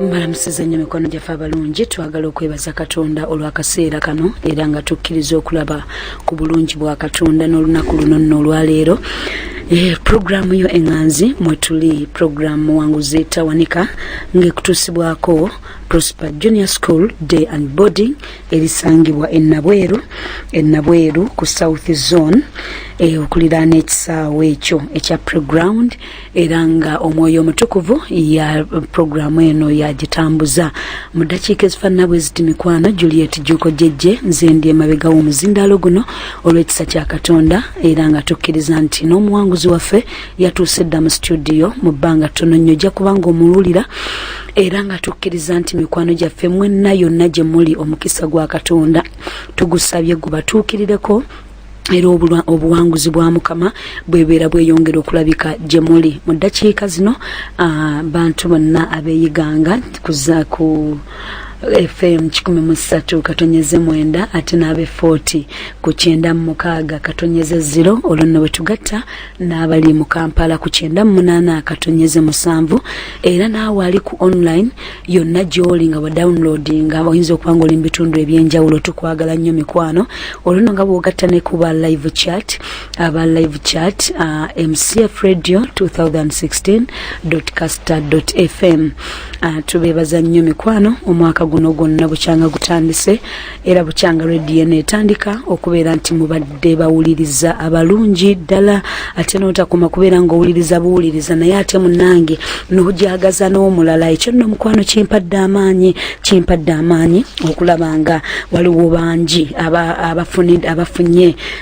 mbalamusiza nnyo mikwano gyaffe abalungi twagala okwebaza katonda olw'akaseera kano era nga tukkiriza okulaba ku bulungi bwa katonda n'olunaku luno nno olwaleero eh, puroguraamu yo eŋŋanzi mwe tuli puroguraamu muwanguzi tawanika ng'ekutuusibwako prosper junior school day and boarding erisangibwa enabweru enabweru ku south zone eh, okuliraana ekisaawo ekyo ekya preground era nga omwoyo omutukuvu ya puroguramu eno yagitambuza mu ddakiika ezifaanana bwe ziti mikwano juliet juko jejje nze ndi emabega w'omuzindaalo guno olw'ekisa kya katonda era nga tukkiriza nti n'omuwanguzi waffe yatuuse dda mu situdiyo mu bbanga ttono nnyo ojja kuba nga omuwulira era nga tukkiriza nti mikwano gyaffe mwenna yonna gye muli omukisa gwa katonda tugusabye gubatuukirireko era obuwanguzi bwa mukama bwebeera bweyongera okulabika gye muli mu ddakiika zino bantu bonna abeeyiganga kuza ku fm kikumi mu ssatu katonyeze mwenda ate n'abe forty ku kyenda mu mukaaga katonyeze ziro olwo nno bwe tugatta n'abali mu kampala ku kyenda mu munaana katonyeze musanvu era n'awe ali ku online yonna gyoli nga wa downloadinga oyinza okuba nga oli mu bitundu ebyenjawulo tukwagala nnyo mikwano olwono nga bwogatta ne kuba live chat aba live chat uh, mcf radio 2016 caster fm uh, tubeebaza nnyo mikwano omwaka guno gwonna bukyanga gutandise era bukyanga lwe dna etandika okubeera nti mubadde bawuliriza abalungi ddala ate notakoma kubeera nga owuliriza buwuliriza naye ate munange nojagaza n'omulala ekyo nno omukwano kimpadde amaanyi kimpadde amaanyi okulaba nga waliwo bangi abafunye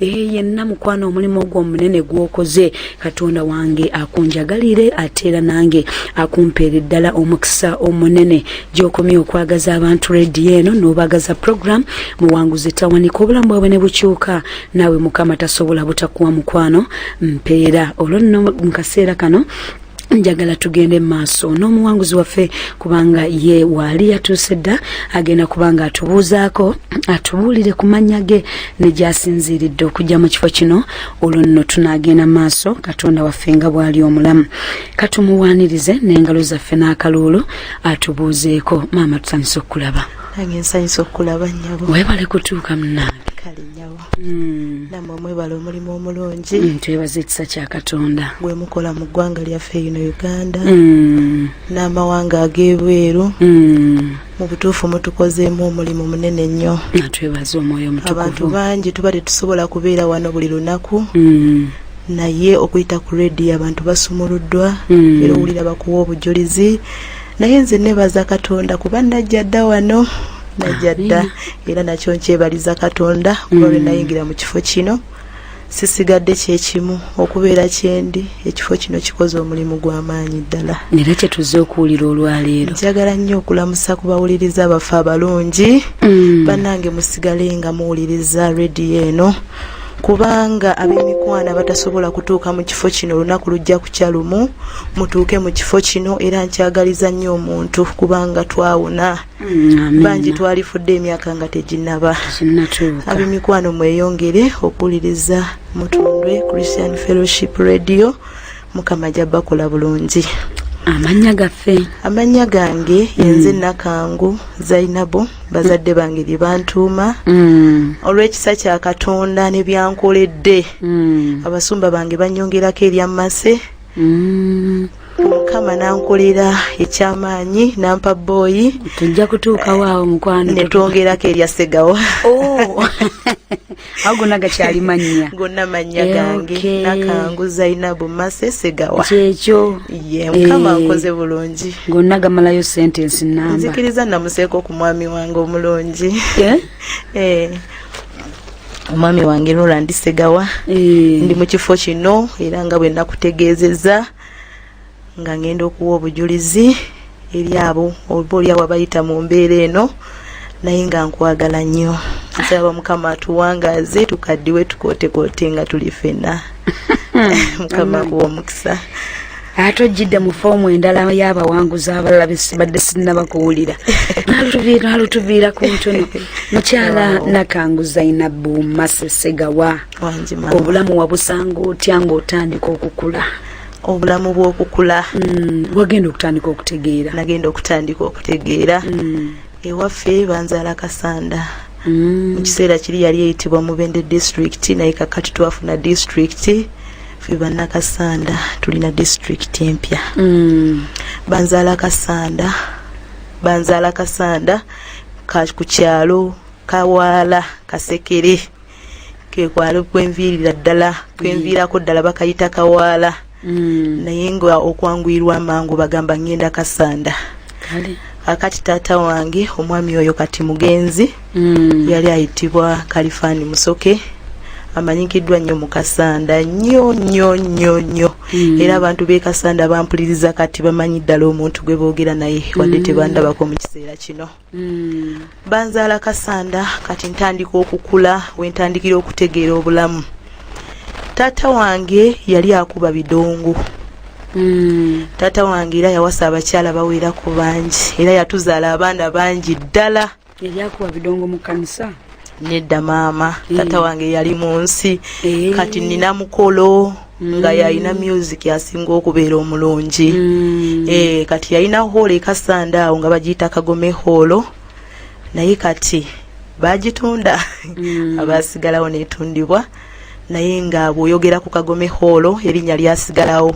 ee yenna mukwano omulimu ogwo omunene gwokoze katonda wange akunjagalire ate era nange akumpeere ddala omukisa omunene gyokomye okwagaza abantu rediyo eno n'obagaza program muwanguzi tawanika obulamu bwabwe ne bukyuka naawe mukama tasobola butakuwa mukwano mpeera olwo nno mu kaseera kano njagala tugende maaso n'omuwanguzi waffe kubanga ye waali yatuuse dda agenda kubanga atubuuzaako atubuulire ku mannya ge ne gyasinziiridde okujja mu kifo kino olwo nno tunaagenda maaso katonda waffe nga bw'ali omulamu katumuwaanirize n'engalo zaffe n'akaluulu atubuuzeeko maama tutandise okukulaba nange nsanyusa okukulaba nyabo webale kutuuka munange Mm. namwe mwebale omulimu omulungi mm, twebaza ekisa kya katonda gwemukola mu ggwanga lyaffe ino uganda mm. n'amawanga ag'ebweru mu butuufu mutukozeemu omulimu munene nnyo twebaza omwoyo mutukuvu abantu bangi tuba tetusobola kubeera wano buli lunaku naye okuyita ku rediyo abantu basumuluddwa era owulira bakuwa obujulizi naye nze nebaza katonda kuba najja dda wano najja dda era nakyo nkyebaliza katonda kuba lwe mm. nayingira mu kifo kino sisigadde kyekimu okubeera kyendi ekifo kino kikoze omulimu gw'amaanyi ddala era kyetuze okuwulira olwaleero njagala nnyo okulamusa ku bawuliriza baffe abalungi mm. bannange musigale nga muwuliriza rediyo eno kubanga ab'emikwano abatasobola kutuuka mu kifo kino olunaku lujja kukya lumu mutuuke mu kifo kino era nkyagaliza nnyo omuntu kubanga twawona Mm, bangi twalifudde emyaka nga teginaba abemikwano mweyongere okuwuliriza mutundwe christian fellowship radio mukama ajja bakola bulungi amannya gaffe amannya gange yenze mm. nakangu zainabu bazadde bange lye bantuuma mm. olw'ekisa kya katonda ne byankoledde abasumba bange banyongerako eryamase mukama nankolera ekyamaanyi nampa booyi tujja kutuukawo awo mukwano netwongerako erya segawo oh. awo gonna gakyali mannya gonna mannya eh, gange nakangu zainabu mase segawa kyekyo ye mukama eh. nkoze bulungi gonna gamalayo sentensi namba nzikiriza namuseeko ku mwami wange omulungi eh? omwami wange nola ndisegawa eh. ndi mu kifo kino era nga bwe nakutegeezezza nga ngenda okuwa obujulizi eri abo oba oliawo abayita mu mbeera eno naye nga nkwagala nnyo nsaba mukama atuwangaaze tukaddiwe tukootekoote nga tuli fenna mukama kuwa omukisa ate ojjidde mu foomu endala y'abawanguzi abalala besibadde sinnabakuwulira nalutuviira ku ntono mukyala nakangu zainabu masesegawa obulamu wabusanga otya ng'otandika okukula obulamu bw'okukula mm, wagenda okutandika okutegeera nagenda okutandika okutegeera mm. ewaffe banzaala kasanda mm. mu kiseera kiri yali eyitibwa mubende district naye kakati twafuna district fe bannakasanda tulina district empya mm. banzaala kasanda banzaala kasanda ku kyalo kawaala kasekere kekwali kwenviirira ddala kwenviirako ddala bakayita kawaala mm. naye nga okwanguyirwa amangu bagamba ngenda kasanda akati taata wange omwami oyo kati mugenzi mm. yali ayitibwa kalifaani musoke amanyikiddwa nnyo mu kasanda nnyo nnyo nnyo nnyo mm. era abantu b'e kasanda bampuliriza kati bamanyi ddala omuntu gwe boogera naye wadde mm. tebandabako mu kiseera kino Mm. Banzaala kasanda kati ntandika okukula wentandikira okutegeera obulamu. Taata wange yali akuba bidongo. Mm. Taata wange era yawasa abakyala bawera ku bangi era yatuzaala abaana bangi ddala. Yali akuba bidongo mu kanisa. Nedda maama, mm. taata wange yali mu nsi. Mm. Kati nina mukolo. nga yalina music asinga okubeera omulungi mm. eh, kati yalina hoolo ekasanda awo nga bagiyita kagome hoolo naye kati bagitunda mm. abasigalawo netundibwa naye nga bwoyogera ku kagome hoolo erinnya lyasigalawo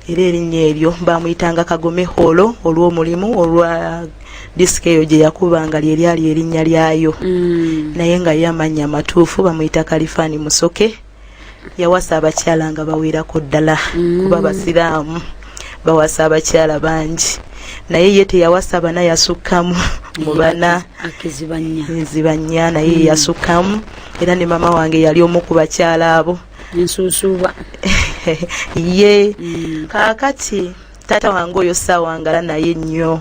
era erinnya eryo bamuyitanga kagome hoolo olw'omulimu olwa disika eyo gye yakuba nga lyeryali erinnya lyayo mm. naye nga ye amannya amatuufu bamuyita kalifani musoke yawasa abakyala nga bawerako ddala mm. kuba basiraamu bawasa abakyala bangi naye ye teyawasa bana yasukkamu mu bana nzibanya naye mm. yasukkamu era ne mama wange yali omu ku bakyala abo ensuusuuba ye mm. kaakati taata wange oyo saawangala naye nnyo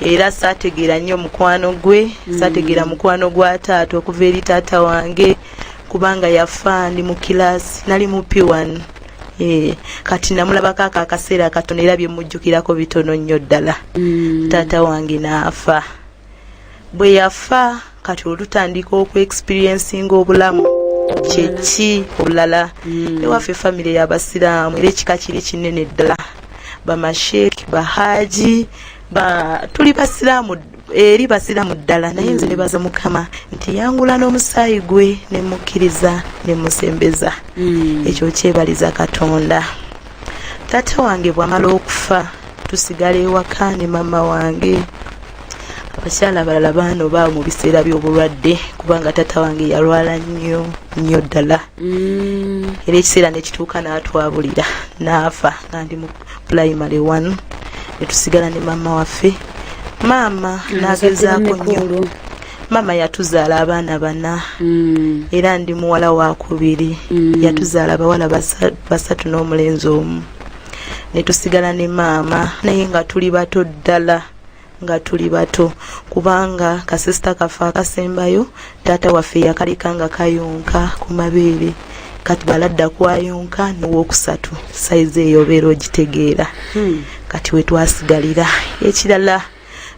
era saategeera nnyo mukwano gwe hmm. saategeera mukwano gwa taata okuva eri taata wange kubanga yafa ndi mu kilaasi nali mu p1 eh, kati namulabako ako akaseera katono era byemujjukirako bitono nnyo ddala hmm. taata wange naafa bwe yafa kati olutandika oku experiencinga obulamu kyeki obulala hmm. ewaffe famire yabasiraamu era ekika kiri kinene ddala bamasheek bahaji tuli basiraamu eri basiraamu ddala naye nze nebaza mukama nti yangula n'omusaayi gwe nemukkiriza nemusembeza hmm. ekyo kyebaliza katonda taata wange bwamala okufa tusigala ewaka ne maama wange abakyala abalala baano baawo mu biseera by'obulwadde kubanga taata wange yalwala nnyo nnyo ddala mm. era ekiseera nekituuka n'atwabulira n'afa nga ndi mu pulayimale one netusigala ne maama waffe maama nagezaako nnyo maama yatuzaala abaana bana mm. era ndi muwala wakubiri mm. yatuzaala abawala basatu n'omulenzi omu netusigala ne maama naye nga tuli bato ddala nga tuli bato kubanga kasisita kaffe akasembayo taata waffe yakaleka nga kayonka ku mabeere kati baladda kwayonka nowokusatu sayizi eyobeera ogitegeera hmm. kati wetwasigalira ekirala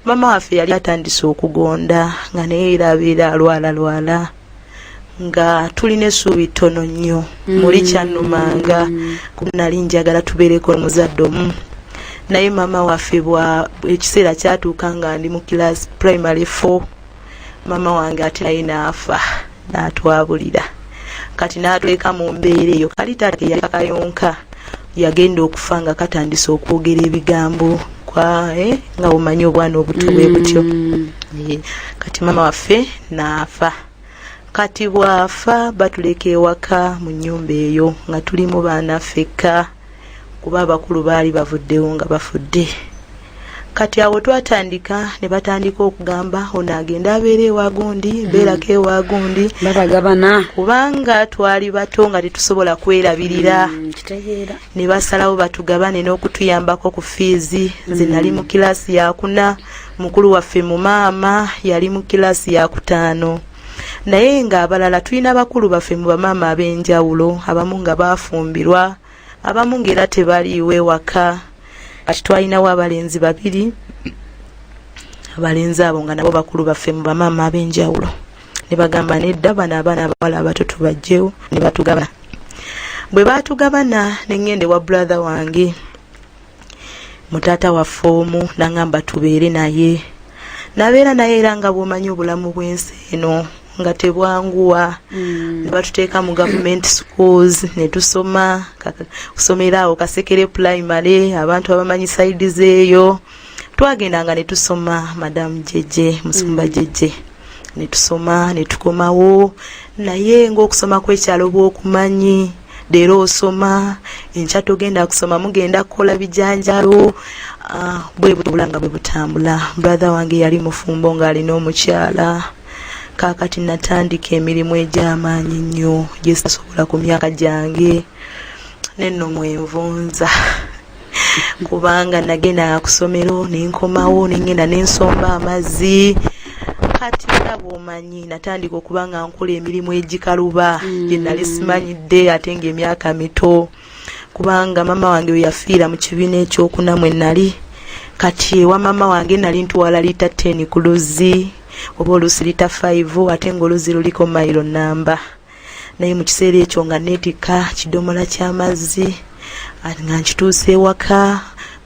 mama waffe yali atandise okugonda nga naye era abeera alwala lwala nga tulina essuubi ttono nnyo mm. muli kyannumanga ku nali njagala tubeereko omuzadde omu naye maama waffe bwa ekiseera kyatuuka nga ndi mu kilaasi primary four mama wange ati naye naafa naatwabulira kati naatweka mu mbeera eyo kali taata eyakakayonka yagenda okufa nga katandise okwogera ebigambo kwae eh, nga omanyi obwana obuto bwe butyo mm. eh, kati mama waffe naafa kati bwafa batuleka ewaka mu nyumba eyo nga tulimu baana fekka kuba abakulu baali bavuddewo nga bafudde kati awo twatandika ne batandika okugamba ono agende abeera ewagundi hmm. beerako ewagundi babagabana kubanga twali bato nga tetusobola kwerabirira hmm, ne basalawo batugabane n'okutuyambako ku fiizi hmm. nze nali mu kilaasi yakuna mukulu waffe mu maama yali mu kilaasi yakutaano naye nga abalala tulina bakulu baffe mu bamaama ab'enjawulo abamu nga baafumbirwa abamu ng'era tebaliiwo ewaka kati twalinawo abalenzi babiri abalenzi abo nga nabo bakulu baffe mu bamaama ab'enjawulo ne bagamba nedda bano abaana abawala abato tubajjewo ne batugabana bwe baatugabana ne ŋŋenda ewa brother wange mutaata waffe omu nangamba tubeere naye nabeera naye era nga bwomanyi obulamu bwensi eno nga tebwanguwa mm. nebatuteeka mu gavument schools netusoma kusomera awo kasekere primary abantu abamanyi saidi zeeyo twagendanga netusoma madamu jeje musumba mm. jeje mm. netusoma netukomawo naye ngaokusoma kwekyalo bwokumanyi leero osoma enkya togenda kusoma mugenda kukola bijanjalo ah, bwe butubula nga bwe butambula brother wange yali mufumbo ng'alina omukyala kaakati natandika emirimu egy'amaanyi nnyo gye sasobola ku myaka gyange nenno mwenvunza kubanga nagendanga ku ssomero ne nkomawo ne ngenda ne nsomba amazzi kati era bwomanyi natandika okuba nga nkola emirimu egikaluba mm. gye nali simanyidde ate ng'emyaka mito kubanga maama wange we yafiira mu kibiina ekyokuna mwe nali kati ewa maama wange nali ntwala liita ten ku luzzi oba oluusi liita five ate ng'oluzzi luliko mayiro nnamba naye mu kiseera ekyo nga neetikka kidomola ky'amazzi nga nkituusa ewaka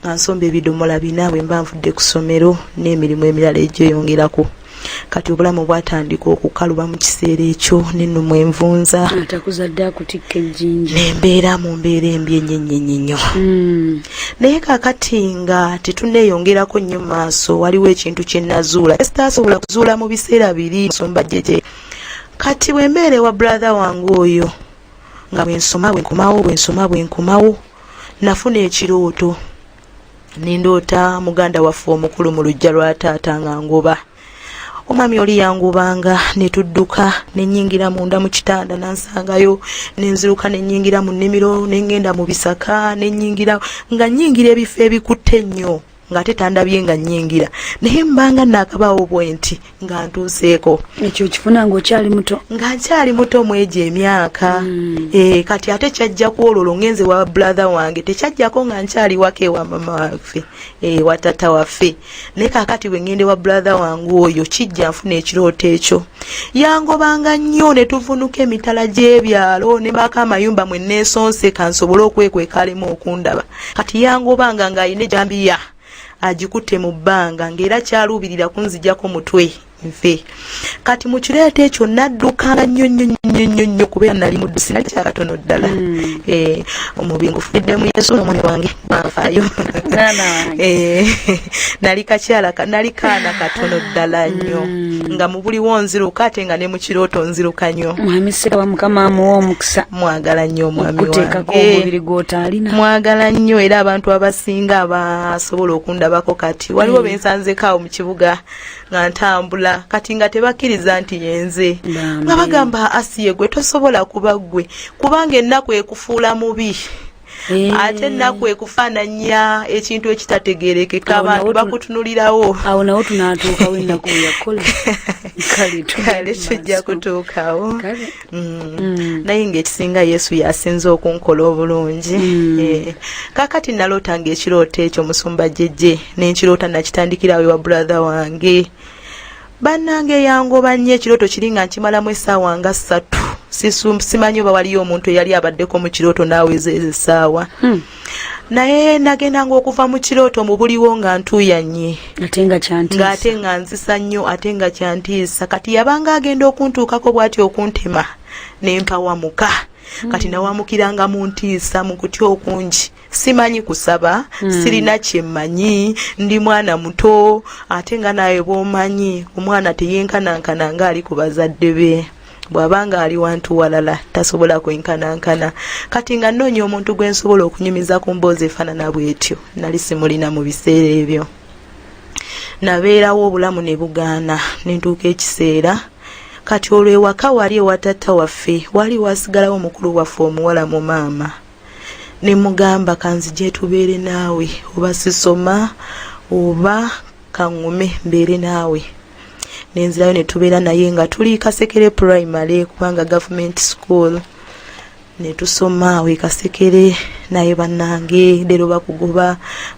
nga nsomba ebidomola bina bwe mba nvudde ku ssomero n'emirimu emirala egyeyongerako kati obulamu bwatandika okukaluba mu kiseera ekyo nennomu envunza atakuzadde akutikka ejjinja nembeera mu mbeera embi enyenyenyenyo hmm. naye kakati nga tetuneeyongerako nnyo maaso waliwo ekintu kye nazuula sitaasobola kuzuula mu biseera biri nsomba jeje kati bwe mbeera ewa brother wange oyo nga bwe nsoma bwe nkomawo bwe nsoma bwe nkomawo nafuna ekirooto nindoota muganda waffe omukulu mu lujja lwa taata nga ngoba omwami oli yangubanga ne tudduka ne nnyingira munda mu kitanda nansangayo ne nziruka ne nnyingira mu nnimiro ne ngenda mu bisaka ne nnyingira nga nnyingira ebifo ebikutte ennyo ng'ate tandabye nga nyingira naye mbanga naakabaawo bwenti nga ntuuseeko ekyo kifuna ngaokyali muto nga nkyali muto mwegyo emyaka mm. e, kati ate kyajja kwololo ngenze wa brother wange tekyajjako nga nkyali waka ewa mama waffe e, eh, watata waffe naye kakati bwe ngende wa brother wange oyo kijja nfuna ekirooto ekyo yangobanga nnyo ne tuvunuka emitala gy'ebyalo ne maaka amayumba mwe neesonse kansobole okwekweka alimu okundaba kati yangobanga ng'alina ejambiya agikutte mu bbanga ng'era kyaluubirira kunzijako mutwe nfe kati mu kireeta ekyo naddukanga nnyo nnyo nnyo nnyo nnyo kubeera nali muddu sinali kyakatono ddala hmm. eh, omubi ngufudde mu yesu omwana wange banfayo eh, nali kakyala nali kaana katono ddala nnyo hmm. nga buliwo nziruka ate nga ne mu kirooto nziruka nnyo mwami siraba mukama amuwa omukisa mwagala nnyo omwami wange omubiri gw'otaalina mwagala nnyo era abantu abasinga abasobola okundabako kati waliwo mm. be nsanzeko awo mu kibuga nga ntambula kati nga tebakkiriza nti yenze nga bagamba asiye gwe tosobola kuba ggwe kubanga ennaku ekufuula mubi Eh. ate ennaku ekufaananya ekintu ekitategerekeka abantu bakutunulirawo awo nawo tunatuukawo ennaku yakola kale tujja kutuukawo mm. mm. naye ngaekisinga yesu yasinza okunkola obulungi mm. eh. kakati naloota ngaekirooto ekyo musumba jeje nenkiroota nakitandikirawo ewa brother wange bannange yangoba nnyo ekirooto kiri nga nkimalamu essaawa nga ssatu simanyi oba waliyo omuntu eyali abaddeko mu kirooto naaweza ezo essaawa hmm. naye nagendanga okuva mu kirooto mu buliwo nga ntuyanye ng'ate nga nzisa nnyo ate nga kyantiisa kati yabanga agenda okuntuukako bw'ati okuntema ne mpawamuka hmm. kati nawamukiranga mu ntiisa mu kutya okungi hmm. simanyi kusaba mm. sirina kyemmanyi ndi mwana muto ate nga naawe bwomanyi omwana teyenkanankana nga ali ku bazadde be bw'aba nga ali wantu walala tasobola kwenkanankana kati nga nnoonya omuntu gwe nsobola okunyumiza ku mboozi efaanana bw'etyo nali simulina mu biseera ebyo nabeerawo obulamu ne bugaana ne ntuuka ekiseera kati olwo ewaka wali ewatatta waffe wali wasigalawo omukulu waffe omuwala mu maama nemugamba kanzije tubeere naawe oba sisoma oba kaŋŋume mbeere naawe nenzirayo ne tubeera naye nga tuli kasekere primary kubanga gavumenti school ne tusoma awo ekasekere naye bannange leero bakugoba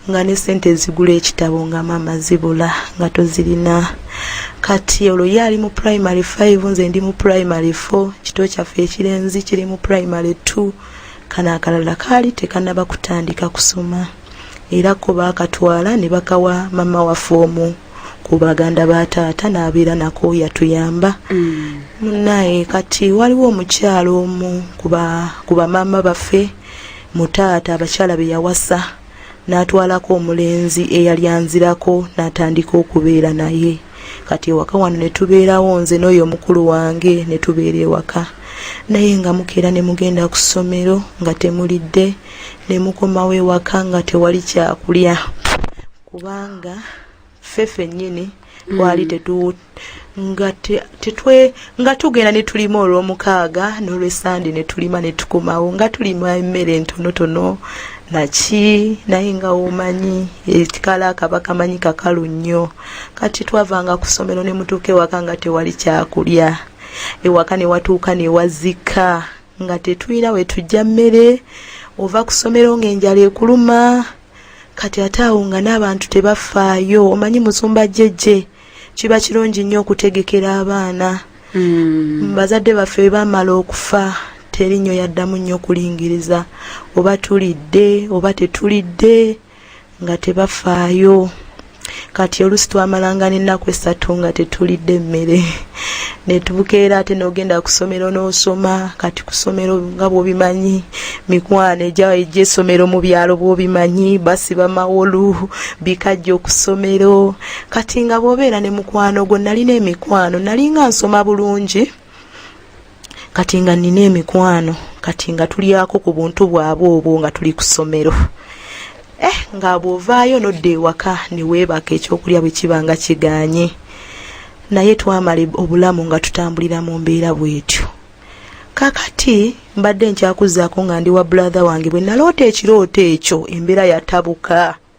nga ne sente ezigula ekitabo nga maama zibula nga tozirina kati olwo ye ali mu primary 5 nze ndi mu primary 4 kito kyaffe ekirenzi kiri mu primary 2 kano akalala kaali tekanaba kutandika kusoma era ko baakatwala ne bakawa mama waffe omu ku baganda ba taata n'abeera nako yatuyamba munaye mm. kati waliwo omukyalo omu ku bamaama baffe mu taata abakyala be yawasa n'atwalako omulenzi eyali anzirako n'atandika okubeera naye kati ewaka wano ne tubeerawo nze n'oyo omukulu wange ne tubeera ewaka naye nga mukeera ne mugenda ku ssomero nga temulidde ne mukomawo ewaka nga tewali kyakulya kubanga ffe fennyini mm. twali tetu nga tetwe nga tugenda ne tulima olw'omukaaga n'olwesande ne tulima ne tukomawo nga tulima emmere entonotono naki naye nga omanyi ekikala akaba kamanyi kakalu nnyo kati twavanga ku ssomero ne mutuuka ewaka nga tewali kyakulya ewaka ne watuuka ne wazika nga tetulina we tujja mmere ova ku ssomero ng'enjala ekuluma kati ate awo nga n'abantu tebafaayo omanyi musumba jjejje kiba kirungi nnyo okutegekera abaana hmm. bazadde baffe bamala okufa teri nnyo yaddamu nnyo okulingiriza oba tulidde oba tetulidde nga tebafaayo kati olusi twamalanga n'ennaku essatu nga tetulidde emmere netubukeera ate nogenda kusomero nosoma kati kusomero nga bwobimanyi mikwano eja eja esomero mu byalo bwobimanyi basiba mawolu bikajja okusomero kati nga bwobeera ne mukwano gwo nalina emikwano nalinga nsoma bulungi kati nga nina emikwano kati nga tulyako ku buntu bwabwe obwo nga tuli ku ssomero eh nga bw'ovaayo nodda ewaka ne weebaka ekyokulya bwe kiba nga kiganye naye twamala obulamu nga tutambulira mu mbeera bwetyo kakati mbadde nkyakuzaako nga ndi wa bulatha wange bwe naloota ekirooto ekyo embeera yatabuka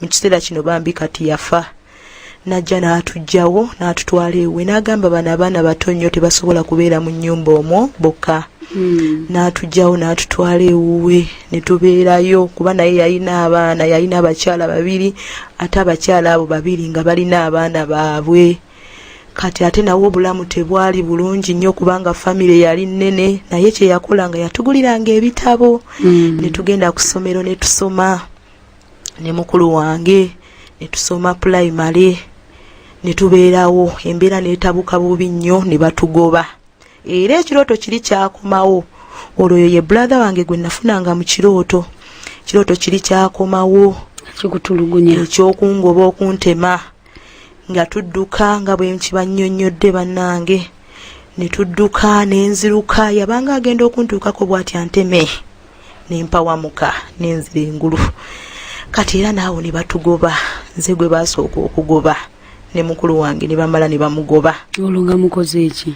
mu kiseera kino bambi kati yafa najja n'atugyawo n'atutwala ewe n'agamba bano abaana bato nnyo tebasobola kubeera mu nnyumba omwo bokka hmm. n'atugyawo n'atutwala ewuwe ne tubeerayo kuba naye yalina abaana yalina abakyala babiri ate abakyala abo babiri nga balina abaana baabwe kati ate nawe obulamu tebwali bulungi nnyo kubanga famire yali nnene naye kye yakola nga yatuguliranga ebitabo hmm. ne tugenda ku ssomero ne tusoma ne mukulu wange ne tusoma pulayimale ne tubeerawo embeera neetabuka bubi nnyo ne batugoba era ekirooto kiri kyakomawo olwo yo ye buladha wange gwe nafunanga mu kirooto kirooto kiri kyakomawo kikutulugunya ekyokungoba okuntema nga tudduka nga bwe nkibannyonnyodde bannange ne tudduka ne nziruka yabanga agenda okuntuukako bw'ati anteme ne mpawamuka ne nzira engulu kati era naawo ne batugoba nze gwe baasooka okugoba ne mukulu wange ne bamala ne bamugoba olwo nga mukoze eki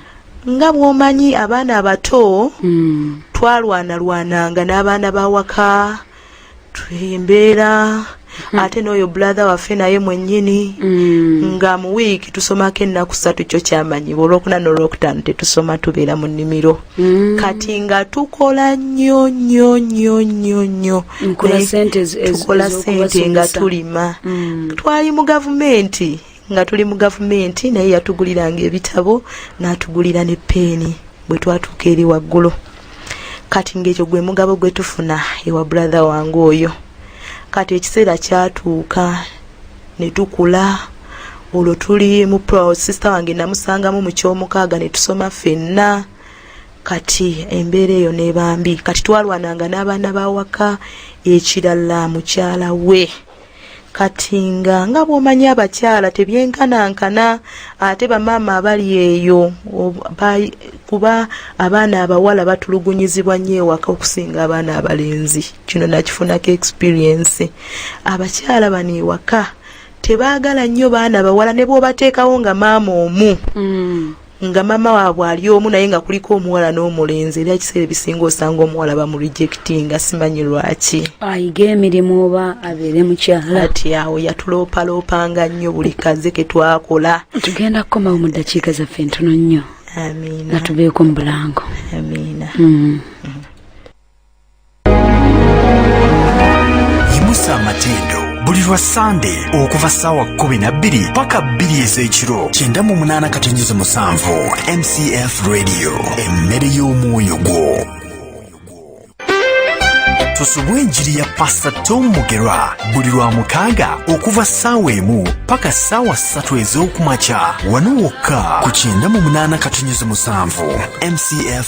nga bwomanyi abaana abato mm. twalwanalwananga n'abaana bawaka embeera hmm. ate n'oyo brother waffe naye mwennyini hmm. nga mu wiiki tusomako ennaku satu kyo kyamanyi olwokuna nolwokutaano tetusoma tubeera mu nnimiro hmm. kati nga tukola nnyo nnyo nnyo nnyo nnyo tukola sente nga tulima twali mu gavumenti nga tuli mu gavumenti naye yatuguliranga ebitabo n'atugulira ne peeni bwe twatuuka eri waggulu kati ng'ekyo gwe mugabo gwe tufuna ewa brother wange oyo kati ekiseera kyatuuka ne tukula olwo tuli mu sister wange namusangamu mu kyomukaaga ne tusoma ffenna kati embeera eyo nebambi kati twalwananga n'abaana bawaka ekirala mukyala we kati nga nga bwomanyi abakyala tebyenkanankana ate bamaama abali eyo kuba abaana abawala batulugunyizibwa nnyo ewaka okusinga abaana abalenzi kino nakifunako experience abakyala bano ewaka tebaagala nnyo baana bawala ne bwobateekawo nga maama omu mm. nga mama waabwe ali omu naye nga kuliko omuwala n'omulenzi era ekiseera ebisinga osanga omuwala bamurejectinga simanyi lwaki ayiga emirimu oba abeere mukyala ati awo yatuloopaloopanga nnyo buli kaze ke twakola tugenda kukomawo mu ddakiika zaffe ntono nnyo nga tubeeko mu bulango amiina mm. mm. yimusa amatendo buli lwa sande okuva saawa 12 paka 2 ez'ekiro 98 mcf radio emmere y'omwoyo gwo tusubwe enjiri ya pasta tom mugerwa buli lwa mukaaga okuva saawa emu paka saawa ssatu ez'okumakya wano wokka ku 98 mcf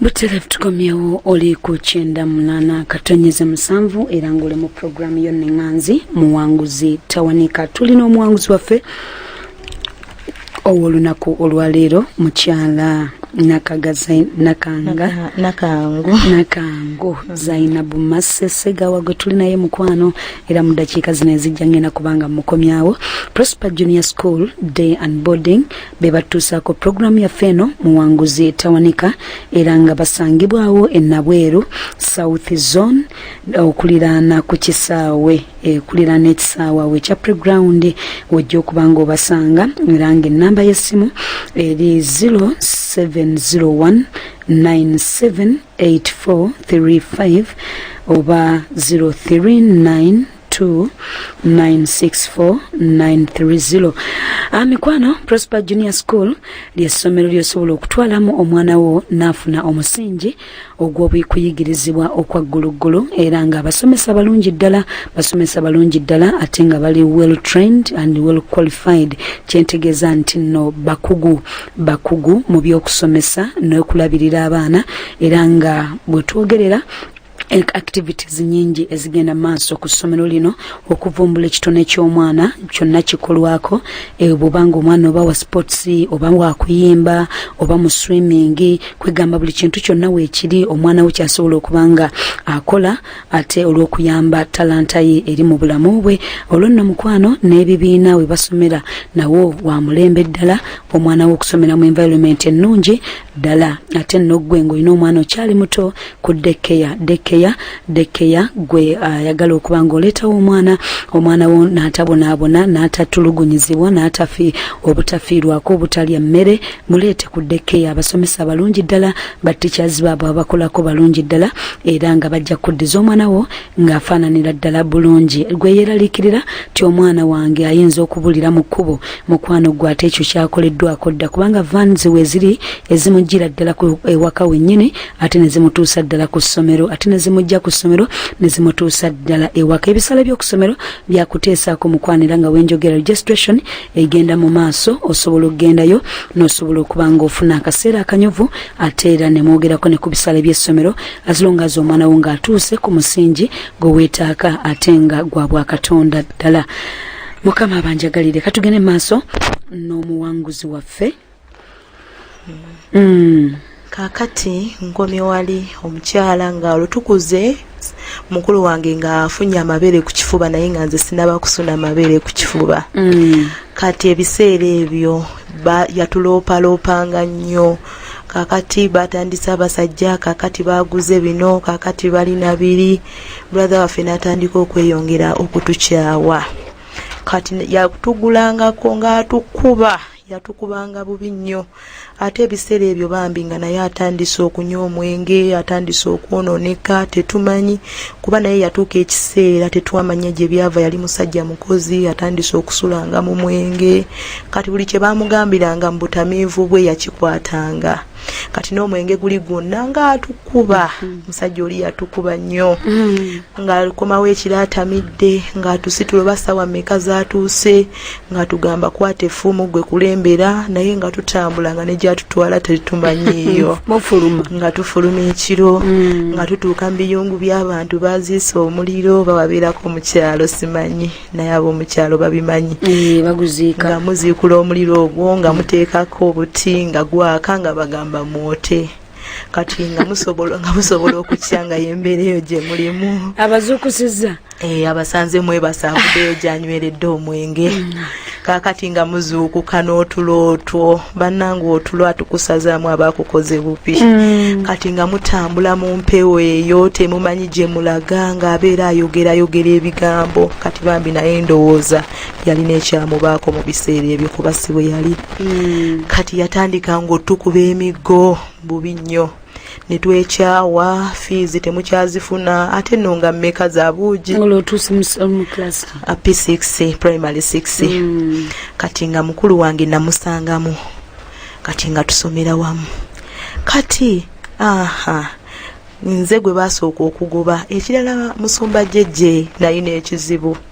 butera tukomyewo oli ku kyenda munana katonyeze musanvu era ngaoli mu puroguramu yo neŋanzi muwanguzi tawanika tulina omuwanguzi waffe owolunaku olwaleero mukyala nakangu zainabu masesegawa gwe tuli naye mukwano era mu dakiika zino ezijja ngenda kubanga mukomyawo prosper junior school day and boarding be batuusaako pulogulaamu yaffe eno muwanguzi tawanika era nga basangibwawo enabweru south zone okuliraana ku kisaawe ekuliraana ekisaawe awo ekya preground wojja okuba nga obasanga era nga ennamba y'essimu eri 0701 978435 oba 039 2964930 amikwano ah, prosper junior school lyessomero lyosobola okutwalamu omwana wo naafuna omusingi ogw'obukuyigirizibwa okwagguluggulu era nga abasomesa balungi ddala basomesa balungi ddala ate nga bali well trained and well qualified kyentegeeza nti nno bakugu bakugu mu by'okusomesa n'okulabirira abaana era nga bwe twogerera activities nyingi ezigenda maaso ku ssomero lino okuvumbula ekitone ky'omwana kyonna kikolwako eh, bwoba nga omwana oba wa sports oba wakuyimba oba mu swimming kwegamba buli kintu kyonna weekiri omwana we kyasobola okuba nga akola ate olw'okuyamba talanta ye eri mu bulamu bwe olwo nno mukwano n'ebibiina we basomera nawo wa mulembe ddala omwana we okusomera mu environment ennungi ddala ate nno ggwe ng'olina omwana okyali muto ku dekkeya dekkeya dekkeya gwe ayagala uh, okuba ng'oleetawo omwana omwana wo n'atabonaabona n'atatulugunyizibwa n'atafi obutafiirwako obutalya mmere muleete ku dekkeya abasomesa abalungi ddala batticaz baabo abakolako balungi ddala era nga bajja kuddiza omwana wo ng'afaananira ddala bulungi gwe yeeraliikirira ti omwana wange ayinza okubulira mu kkubo mukwano gwe ate ekyo kyakoleddwako dda kubanga vans we ziri ezimujjira ddala ku ewaka wennyini ate ne zimutuusa ddala ku ssomero ate ne zimujja ku ssomero ne zimutuusa ddala ewaka ebisale by'oku ssomero byakuteesaako mukwano era nga wenjogera registration egenda mu maaso osobola okugendayo n'osobola okuba ng'ofuna akaseera akanyuvu ate era ne mwogerako ne ku bisale by'essomero as long as omwana wo ng'atuuse ku musingi gwe weetaaka ate nga gwa bwakatonda ddala mukama abanjagalire katugende maaso n'omuwanguzi waffe mm. kakati nkomye wali omukyala nga olutukuze mukulu wange ng'afunye amabeere ku kifuba naye nga nze sinaba kusuna amabeere ku kifuba mm. kati ebiseera ebyo yatuloopaloopanga nnyo mm. kakati batandise abasajja kakati baguze bino kakati bali nabiri brother waffe natandika okweyongera okutukyawa kati yatugulangako ngaatukuba yatukubanga bubi nnyo ate ebiseera ebyo bambi nga naye atandise okunywa omwenge atandise okwononeka tetumanyi kuba naye yatuuka ekiseera tetwamanya gye byava yali musajja mukozi atandise okusulanga mu mwenge kati buli kye baamugambiranga mu butamiivu bwe yakikwatanga kati n'omwenge guli gwonna ng'atukuba mm-hmm. musajja oli yatukuba nnyo mm-hmm. ng'akomawo ekiro atamidde ng'atusitulo basaawa meka z'atuuse ng'atugamba kwata effumu gwe kulembera naye nga tutambula nga negyatutwala tetumanyiiyo nga tufuluma ekiro mm. nga tutuuka mu biyungu by'abantu baziisa omuliro bababeerako mu kyalo simanyi naye ab'omu kyalo babimanyi eh, nga muziikula omuliro ogwo nga muteekako obuti nga gwaka nga bagamba mwote kati nga musobola nga musobola okukya nga yembeera eyo gye mulimu abazuukusiza eh, abasanze mwebasaavudeyo gyanyweredde omwenge mm. kakati nga muzuukuka n'otulo otwo bannanga otulo atukusazaamu abakukoze bubi mm. kati nga mutambula mu mpewo eyo temumanyi gye mulaga ng'abeera ayogera ayogera ebigambo kati bambi naye ndowooza yalina ekyamubaako mu biseera ebyo kuba si bwe yali mm. kati yatandika ng'otukuba emiggo bubi nnyo ne twekyawa fiizi temukyazifuna ate no nga mmeka za buugi p6 primary 6 mm. kati nga mukulu wange namusangamu kati nga tusomera wamu kati aha nze gwe basooka okugoba ekirala musumba jejje naye n'ekizibu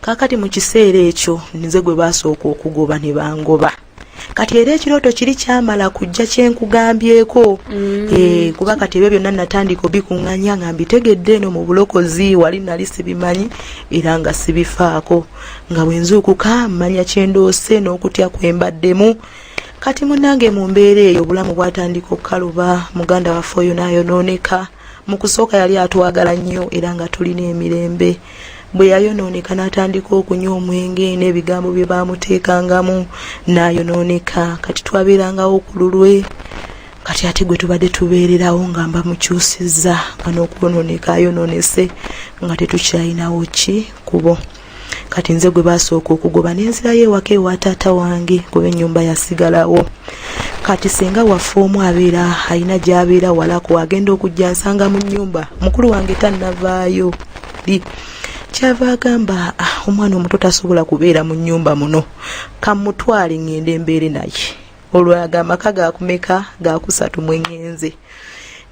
kaakati mu kiseera ekyo nze gwe baasooka okugoba ne bangoba kati era ekirooto kiri kyamala kujja kyenkugambyeko mm. eh, kuba kati ebyo byonna natandika obikuŋŋanya nga mbitegedde eno mu bulokozi wali nali sibimanyi era nga sibifaako nga bwenzuukuka mmanya kyendoose n'okutya kwembaddemu kati munange mu mbeera eyo obulamu bwatandika okukaluba muganda waffe oyo naayonooneka mu kusooka yali atwagala nnyo era nga tulina emirembe bwe yayonooneka n'atandika okunywa omwenge n'ebigambo bye baamuteekangamu n'ayonooneka kati twabeerangawo ku lulwe kati ate gwe tubadde tubeererawo nga mba mukyusizza nga n'okwonooneka ayonoonese nga tetukyalinawo ki kubo kati nze gwe basooka okugoba nenzirayo ewaka ewa taata wange kuba enyumba yasigalawo kati senga waffe omu abeera alina gyabeera walaku agenda okujja nsanga mu nyumba mukulu wange tannavaayo li kyava agamba ah, omwana omuto tasobola kubeera mu nyumba muno kamutwale ngende mbeere naye olwo ago amaka gakumeka gakusatu mwengenze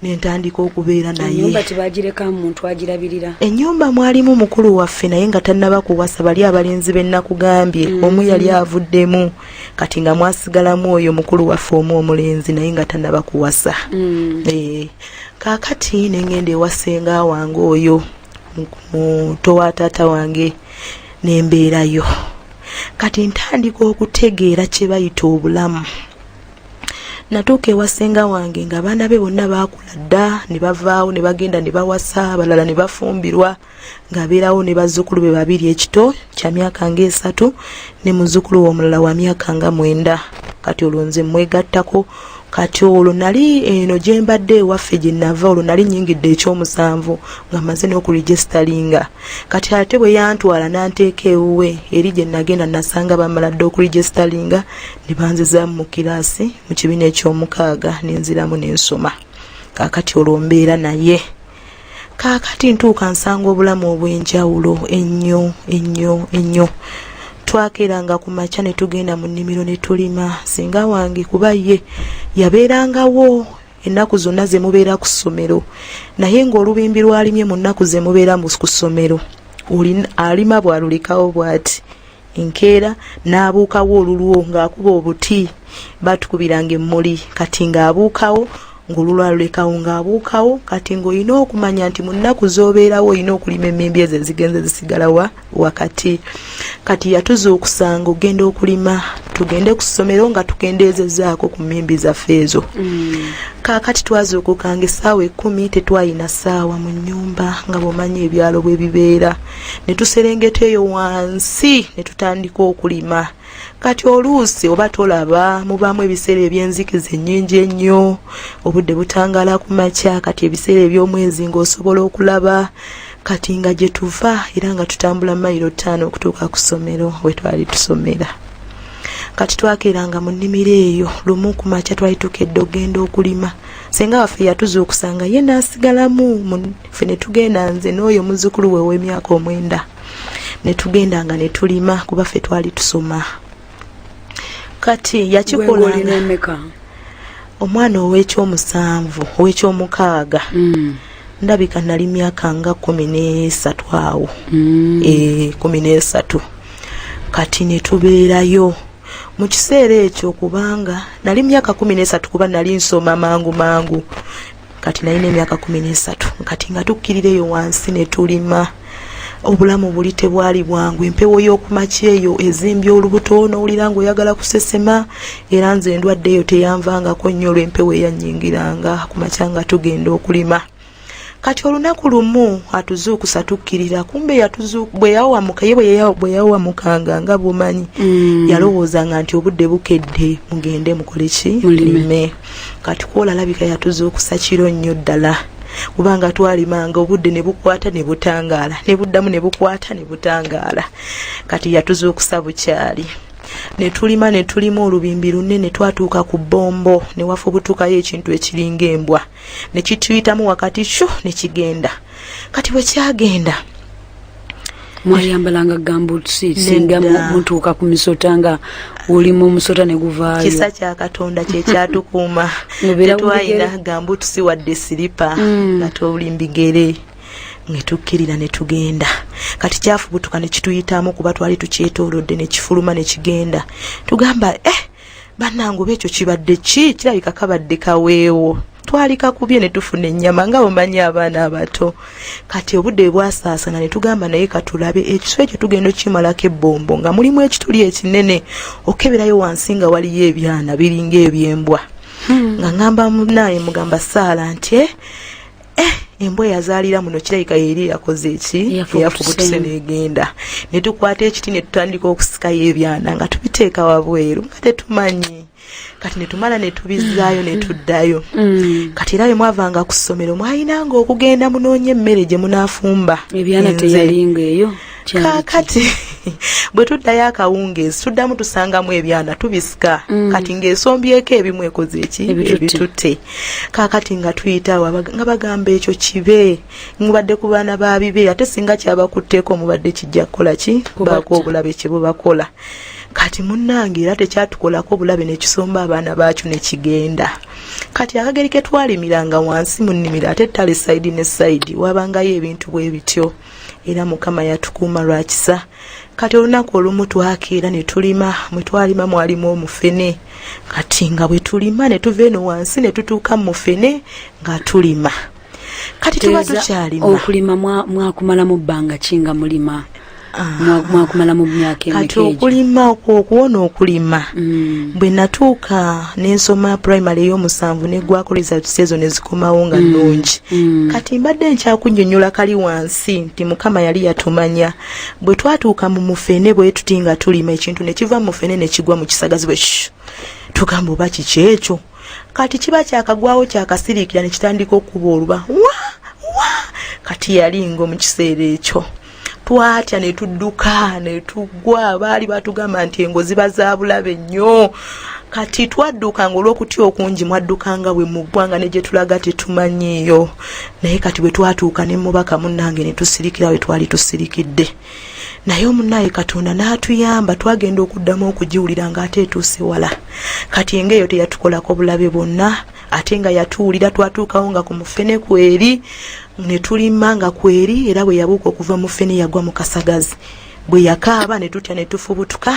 nentandika okubeera nayenyumba tebagirekamu muntu agirabirira enyumba mwalimu mukulu waffe naye nga tannaba kuwasa bali abalenzi benakugambye mm -hmm. omu yali avuddemu kati nga mwasigalamu oyo mukulu waffe omu omulenzi naye nga tannaba kuwasa mm -hmm. e, eh, kakati nengenda ewasenga wange oyo muto wa taata wange nembeerayo kati ntandika okutegeera kyebayita obulamu natuuka ewa ssenga wange nga abaana be bonna baakula dda ne bavaawo ne bagenda ne bawasa abalala ne bafumbirwa ng'abeerawo ne bazzukulu be babiri ekito kya myaka ng'esatu ne muzzukulu we omulala wa myaka nga mwenda kati olwo nze mmwegattako kati olwo nali eno gye mbadde ewaffe gye nava olwo nali nyingidde ekyomusanvu nga maze n'okuregisitalinga kati ate bwe yantwala n'anteeka ewuwe eri gye nagenda nasanga bamala dde okuregisitalinga ne banzizaamu mu kiraasi mu kibiina ekyomukaaga nenziramu n'ensoma kaakati olwo mbeera naye kaakati ntuuka nsanga obulamu obw'enjawulo ennyo ennyo ennyo twakeeranga ku makya ne tugenda mu nnimiro ne tulima singa wange kuba ye yabeerangawo ennaku zonna ze mubeera ku ssomero naye ng'olubimbi lwalimye mu nnaku ze mubeera ku ssomero alima bw'alulekawo bw'ati enkeera n'abuukawo olulwo ng'akuba obuti batukubiranga emmuli kati ng'abuukawo ng'olulwo alulekawo ng'abuukawo kati ng'olina okumanya nti mu nnaku z'obeerawo olina okulima emmimbi ezo ezigenze zisigala wa wakati kati yatuzuukusanga ogenda okulima tugende ku ssomero nga tukendeezezaako ku mmimbi zaffe ezo mm. kaakati twazuukukanga essaawa ekkumi tetwalina ssaawa mu nnyumba nga bw'omanyi ebyalo bwe bibeera ne tuserengeta eyo wansi ne tutandika okulima kati oluusi oba tolaba mubaamu ebiseera ebyenzikiza ennyingi ennyo obudde butangaala ku makya kati ebiseera eby'omwezi ng'osobola okulaba kati nga gye tuva era nga tutambula mayiro ttaano okutuuka ku ssomero we twali tusomera kati twakeeranga mu nnimiro eyo lumu ku makya twali tukedde okugenda okulima senga waffe yatuzuukusa nga ye n'asigalamu ffe ne tugenda nze n'oyo muzzukulu we ow'emyaka omwenda ne tugenda nga ne tulima kuba ffe twali tusoma kati yakikolanga omwana ow'ekyomusanvu ow'ekyomukaaga mm. ndabika nali myaka nga kumi n'esatu awo mm. e, kumi n'esatu kati ne tubeerayo mu kiseera ekyo kubanga nali myaka kumi n'esatu kuba nali nsoma mangu mangu kati nalina emyaka kumi n'esatu kati nga tukkirira eyo wansi ne tulima obulamu buli tebwali bwangu empewo y'okumaki eyo ezimbye olubuto n'owulira ng'oyagala kusesema era nze endwadde eyo teyanvangako nnyo olw'empewo eyannyingiranga ku makya nga tugenda okulima kati olunaku lumu atuzuukusa tukkirira kumbe bweyawamuka ye bwe yawamukanga nga bumanyi mm. yalowoozanga nti obudde bukedde mugende mukole ki mulime kati kwola alabika yatuzuukusa kiro nnyo ddala kubanga twalimanga obudde ne bukwata ne butangaala ne buddamu ne bukwata ne butangaala kati yatuzuukusa bukyali ne tulima ne tulima olubimbi lunene twatuuka ku bbombo ne wafubutukayo ekintu ekiringa embwa ne kituyitamu wakati shu ne kigenda kati bwe kyagenda mwayambalanga gambuutusi singa mutuuka ku misota nga oli mu musota ne guvaayo kisa kya katonda kye kyatukuuma tetwalina gambuutusi wadde siripa mm. nga toli mbigere netukkirira ne tugenda kati kyafubutuka ne kituyitamu kuba twali tukyetoolodde ne kifuluma ne kigenda tugamba eh banange oba ekyo kibadde ki kirabika kabadde kaweewo twalika kubye ne tufuna ennyama nga bumanyi abaana abato kati obudde bwasaasana ne tugamba naye katulabe ekiso ekyo tugenda okimalako ebbombo nga mulimu ekituli ekinene okeberayo wansi nga waliyo ebyana biringa ebyembwa hmm. nga ngamba munaye mugamba saala nti eh, eh, embwa eyazaalira muno kirabika yeri yakoze eki eyafubutuse negenda netukwata ekiti netutandika okusikayo ebyana nga tubiteeka wabweru nga tetumanyi kati netumala netubizaayo netuddayo mm. kati era bemwavanga ku ssomero mwalinanga okugenda munoonya emmere gye munafumba ebyana teyalinga eyo e kakati bwe tuddayo akawungeezi tuddamu tusangamu ebyana tubisika mm. kati ng'esombyeko ebimu ekoze eki ebitutte kakati nga tuyitawo nga bagamba ekyo kibe mubadde ku baana ba bibe ate singa kyabakutteko mubadde kijja kukola ki baako obulabe kye bubakola kati munnange era tekyatukolako bulabe nekisomba abaana baakyo nekigenda kati akageri ketwalimiranga wansi mu nnimiro ate tale sayidi ne sayidi wabangayo ebintu bwe bityo era mukama yatukuuma lwa kisa kati olunaku olumu twakeera ne tulima mwe twalima mwalimu omufene kati nga bwe tulima ne tuva eno wansi ne tutuuka mu mufene nga tulima kati tuba tukyalima okulima mwakumala mu bbanga ki nga mulima ah. mwakumala mu myaka emeka kati okulima okuwona okulima mm. bwe natuuka nensoma primary eyomusanvu negwako results ezo nezikomawo nga mm. nungi mm. kati mbadde nkyakunyonyola kali wansi nti mukama yali yatumanya bwe twatuuka mu mufene bwe tuti nga tulima ekintu nekiva mufene nekigwa mu kisagazi bwe tugamba oba kiki ekyo kati kiba kyakagwawo kyakasiriikira nekitandika okuba oluba wa wa kati yali ngo mu kiseera ekyo twatya ne tudduka ne tugwa baali batugamba nti engo ziba za bulabe nnyo kati twadduka nga olw'okutya okungi mwadduka nga bwe muggwa nga ne gye tulaga tetumanyiiyo naye kati bwe twatuuka ne mubaka munnange ne tusirikira we twali tusirikidde naye omunaaye katonda n'atuyamba twagenda okuddamu okugiwulira ng'ate etuuse wala kati enga eyo teyatukolako bulabe bwonna ate nga yatuwulira twatuukawo nga ku mufene kweri ne tulimma nga kweri era bwe yabuuka okuva mufene yagwa mu kasagazi bwe yakaaba ne tutya ne tufubutuka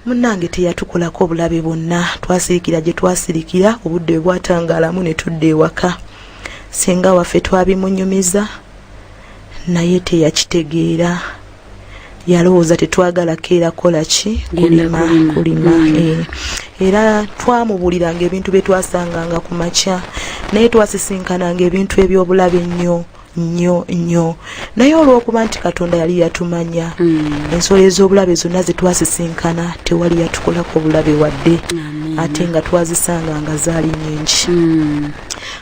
munnange teyatukolako obulabe bwonna twasirikira gye twasirikira obudde bwe bwatangaalamu ne tudda ewaka singa waffe twabimunyumiza naye teyakitegeera yalowooza tetwagala keera kola ki kulima kulima mm. eh. era twamubuliranga ebintu bye twasanganga ku makya naye twasisinkananga ebintu ebyobulabe ennyo nnyo nnyo naye olw'okuba nti katonda yali yatumanya mm. ensolo ez'obulabe zonna ze twasisinkana tewali yatukolako obulabe wadde ate nga twazisanga nga zaali nyingi mm.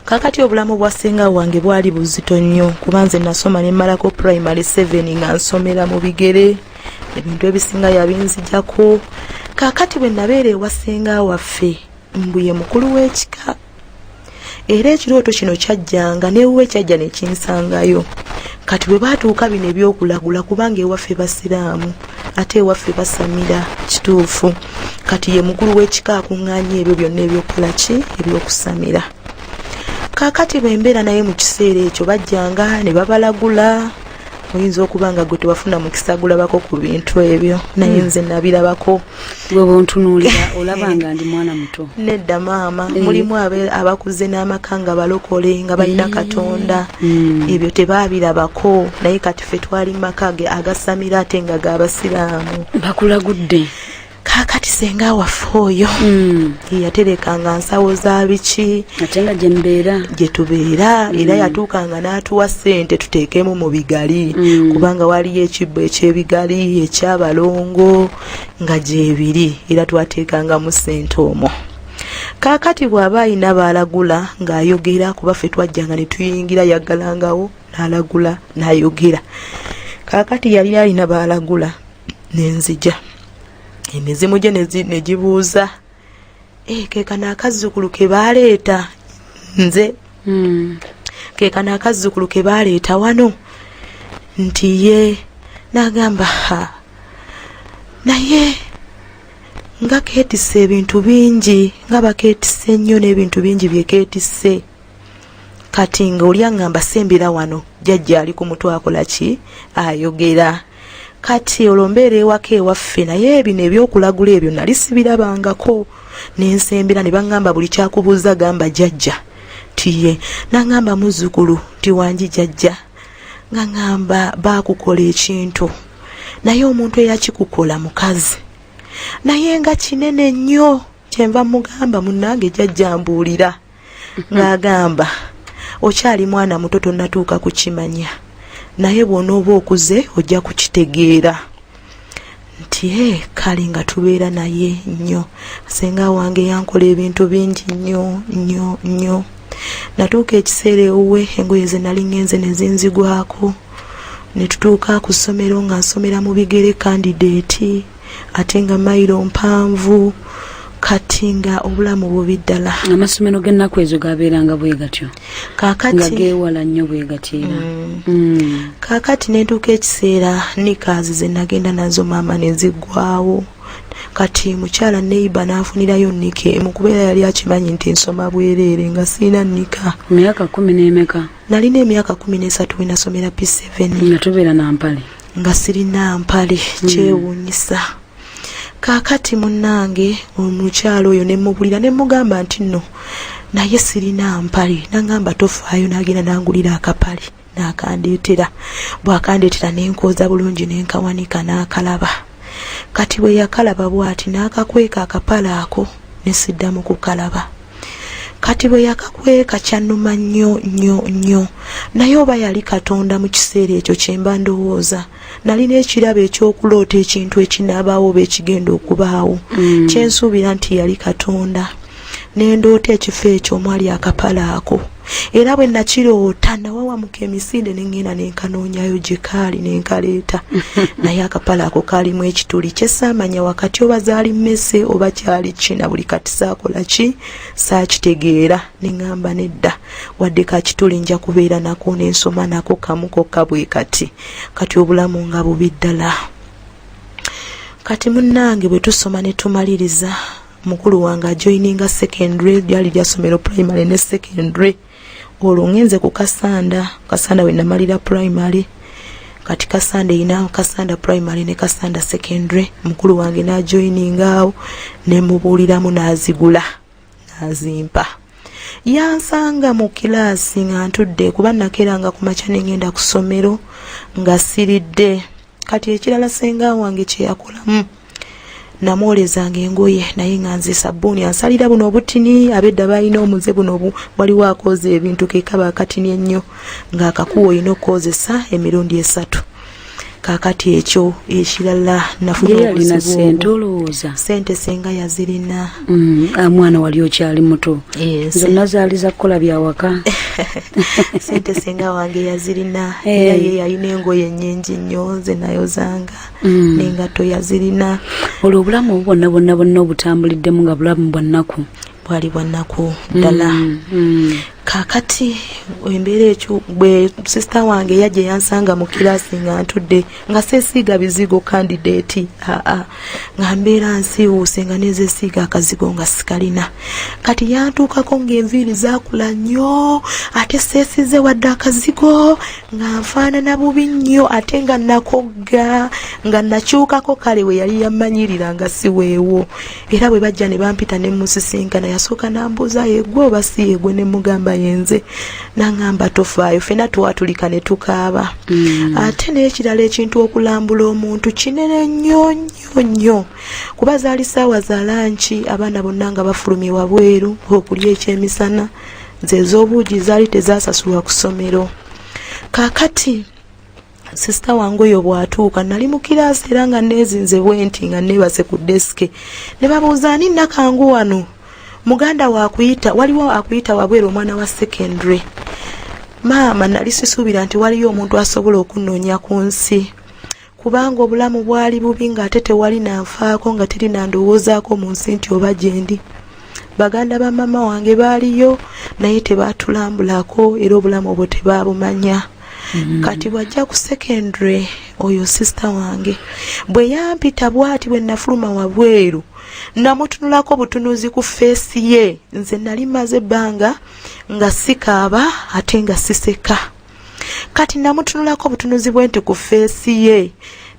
kakati obulamu bwa senga wange bwali buzito nnyo kuba nze nasoma ne malako primary 7 nga nsomera mu bigere ebintu ebisinga yabinzijako kakati bwe nabeera ewa senga waffe mbuye mukulu w'ekika era ekirooto kino kyajjanga newuwe kyajja nekinsangayo kati bwe batuuka bino ebyokulagula kubanga ewaffe basiraamu ate ewaffe basamira kituufu kati ye mukulu w'ekika akuŋŋaanya ebyo byonna ebyokukola ki ebyokusamira kaakati bwe mbeera naye mu kiseera ekyo bajjanga ne babalagula oyinza okuba nga gwe tewafuna mukisa gulabako ku bintu ebyo naye hmm. nze nabirabako gwe bwontunuulira olaba nga ndi mwana muto nedda maama eh. mulimu abakuze n'amaka nga balokole nga balina eh. katonda hmm. ebyo tebabirabako naye kati ffe twali maka ge agasamira ate nga ga basiraamu bakulagudde kakati senga waffe oyo mm. yaterekanga nsawo za biki ate nga gyembeera gye tubeera mm. era yatuukanga n'atuwa ssente tuteekemu mu bigali mm. kubanga waliyo ekibbo ekyebigali ekyabalongo nga gyebiri era twateekangamu ssente omwo kakati bw'aba ayina baalagula ng'ayogera kuba ffe twajjanga ne tuyingira yaggalangawo nalagula nayogera kakati yali alina balagula nenzija emizimu gye negibuuza eh, kekano akazzukulu kebaleeta nze hmm. kekano akazzukulu kebaleeta wano nti ye nagamba ha naye nga ketise ebintu bingi nga baketise nnyo n'ebintu bingi byeketise kati nga oli aŋŋamba sembera wano jajja ali ku mutwe akola ki ayogera kati olwo mbeera ewaka ewaffe naye bino ebyokulagula ebyo nali sibirabangako nensembera ne baŋŋamba buli kyakubuuza gamba jajja tiye naŋŋamba muzzukulu nti wangi jajja nga ŋŋamba baakukola ekintu naye omuntu eyakikukola mukazi naye nga kinene nnyo kyenva mugamba munnange jajjambuulira ng'agamba okyali mwana muto tonnatuuka kukimanya naye bw'onooba okuze ojja kukitegeera nti e kale nga tubeera naye nnyo senga wange yankola ebintu bingi nnyo nnyo nnyo natuuka ekiseera ewuwe engoye ze nali ngenze ne zinzigwako ne tutuuka ku ssomero nga nsomera mu bigere kandideeti ate nga mayiro mpanvu kati nga obulamu bubi ddala amasomero g'ennaku ezo gabeeranga bwe gatyo nga geewala nnyo bwe gatyera mm. mm. kaakati nentuuka ekiseera nikaazi ze nagenda nazo maama ne ziggwawo kati mukyala neiba n'afunirayo nika emu kubeera yali akimanyi nti nsoma bwereere nga sirina nika myaka kumi n'emeka nalina emyaka kumi n'esatu wenasomera p7 nga tubeera nampale nga sirina mpale hmm. kyewuunyisa kaakati munnange omukyalo oyo ne mubulira ne mugamba nti nno naye sirina mpale nangamba tofaayo n'agenda nangulira akapale n'akandeetera bw'akandeetera ne nkooza bulungi ne nkawanika n'akalaba kati bwe yakalaba bw'ati n'akakweka akapale ako ne siddamu kukalaba kati bwe yakakweka kyannuma nnyo nnyo nnyo naye oba yali katonda mu kiseera ekyo kye mba ndowooza nalina ekirabo eky'okuloota ekintu ekinaabaawo oba ekigenda okubaawo mm. kyensuubira nti yali katonda nendoota ekifo ekyo omwali akapala ako era bwe nakiroota nawawamuka emisinde ne ŋŋenda ne nkanoonyayo gye kaali ne nkaleeta naye akapala ako kaalimu ekituli kye saamanya wakati oba zaali mmese oba kyali ki na buli kati saakola ki saakitegeera ne ŋŋamba nedda wadde ka kituli nja kubeera nako ne nsoma nako kamu kokka bwe kati kati obulamu nga bubi ddala kati munnange bwe tusoma ne tumaliriza mukulu wange ajoininga secondary lyali lyasomero primary ne secondary olwo ngenze ku kasanda kasanda we namalira primary kati kasanda erina kasanda primary ne kasanda secondary mukulu wange najoiningaawo nemubuuliramu nazigula nazimpa yansanga mu kilaasi nga ntudde kuba nakeranga ku makya nengenda ku ssomero nga siridde kati ekirala senga wange kyeyakolamu namwolezanga engoye naye nga nze sabbuuni ansalira buno obutini abedda balina omuze buno waliwo akooza ebintu kekaba akatini ennyo ng'akakuwa olina okukozesa emirundi esatu kakati ekyo ekirala nafunaolowooza sente senga yazirina mm, ah, mwana wali okyali muto zonna zaali zakukola byawaka sente senga wange yazirina era eh. ye yalina engoye nyingi nnyo nze nayozanga mm. nengatto yazirina olwo obulamu obubonna bonna bonna obutambuliddemu nga bulamu bwannaku bwali bwannaku ddala mm, mm. kakati embeera ekyo bwe sisita wange yajja eyansanga mu kiraasi nga ntudde nga sesiiga bizigo kandideeti aa nga mbeera nsiiwuuse nga nezesiiga akazigo nga sikalina kati yantuukako ng'enviiri zakula nnyo ate sesize wadde akazigo nga nfaanana bubi nnyo ate nga nakogga nga nakyukako kale we yali yamanyirira nga siweewo era bwe bajja ne bampita ne musisinkana yasooka nambuuza yegwe oba si yegwe ne mugamba yenze nangamba tofaayo fena twatulika ne tukaaba mm. ate n'ekirala ekintu okulambula omuntu kinene nnyo nnyo nnyo kuba zaali saawa za lanki abaana bonna nga bafulumye wabweru okulya ekyemisana nze ez'obuugi zaali tezasasulwa ku ssomero kaakati sisita wange oyo bw'atuuka nali mu kiraasi era nga neezinze bwenti nga neebase ku desike ne babuuza ani nakangu wano muganda wakuyita waliwo akuyita wabweru omwana wa secondary maama nali sisuubira nti waliyo omuntu asobola okunoonya ku nsi kubanga obulamu bwali bubi ng'ate tewali nanfaako nga teri nandowoozaako mu nsi nti oba gyendi baganda ba maama wange baaliyo naye tebaatulambulako era obulamu obwo tebaabumanya Mm-hmm. kati bwajja ku secondary oyo sisita wange bwe yampita bwati bwe nafuluma wabweru namutunulako butunuzi ku feesi ye nze nali maze ebbanga nga sikaaba ate nga siseka kati namutunulako obutunuzi bwe nti ku feesi ye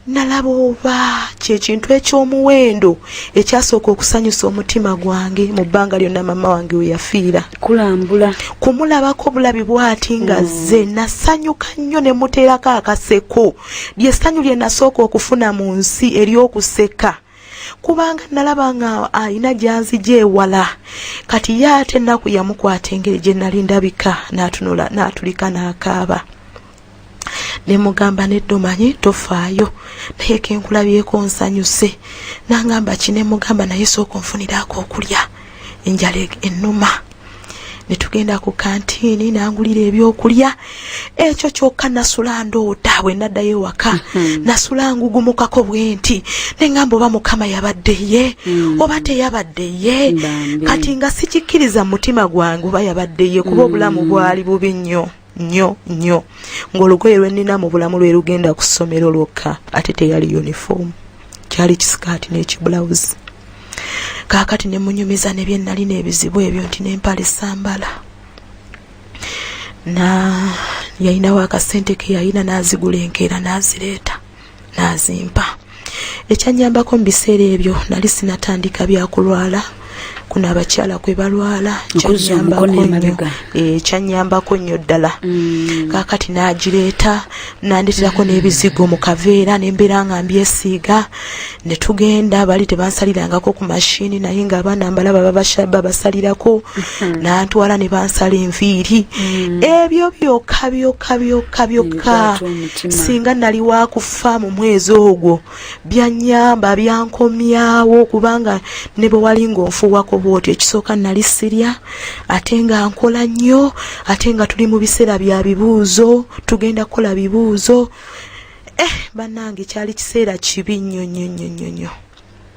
nalaba oba kyekintu ekyomuwendo ekyasooka okusanyusa omutima gwange mu bbanga lyonna mama wange weyafiira kulambula kumulabako bulabi bwati nga mm. ze nasanyuka nnyo ne muteerako akaseko lyessanyu lye nasooka okufuna mu nsi ery'okuseka kubanga nalaba nga alina gyanzija ewala kati ye ate ennaku yamukwata engeri gye nali ndabika natunula natulika n'akaaba ne mugamba nedda omanyi tofaayo naye kenkulabyeko nsanyuse nangamba ki ne mugamba naye sooka onfuniraako okulya enjala ennuma ne tugenda ku kantiini nangulira ebyokulya ekyo kyokka nasula ndoota bwe naddayo ewaka hmm. nasula ngugumukako bwenti ne ŋamba oba mukama yabadde ye hmm. oba teyabadde ye kati nga sikikkiriza mu mutima gwange oba yabadde ye kuba obulamu hmm. bwali bubi nnyo nnyo nnyo ng'olugoye lwe nnina mu bulamu lwe lugenda ku ssomero lwokka ate teyali yunifoomu kyali kisikaati n'ekibulawuzi kaakati ne munyumiza ne bye nnalina ebizibu ebyo nti n'empale sambala na yalinawo akasente ke yalina n'azigula enkeera n'azireeta n'azimpa ekyanyambako mu biseera ebyo nali sinatandika byakulwala kuno abakyala kwe balwala kyanyambako nnyo ddala mm. kakati nagireeta nandeterako mm. n'ebizigo mu kaveera nembeera nga mbyesiiga ne tugenda bali tebansalirangako ku mashini naye nga abaana mbala babasalirako mm-hmm. nantwala ne bansala enviiri mm. ebyo byokka byokka byokka byokka singa nali wakufa mu mwezi ogwo byanyamba byankomyawo kubanga ne bwe wali ng'onfuuwako bwoti ekisooka nali sirya ate nga nkola nnyo ate nga tuli mu biseera bya bibuuzo tugenda kukola bibuuzo eh bannange kyali kiseera kibi nnyo nnyo nnyo nnyo nnyo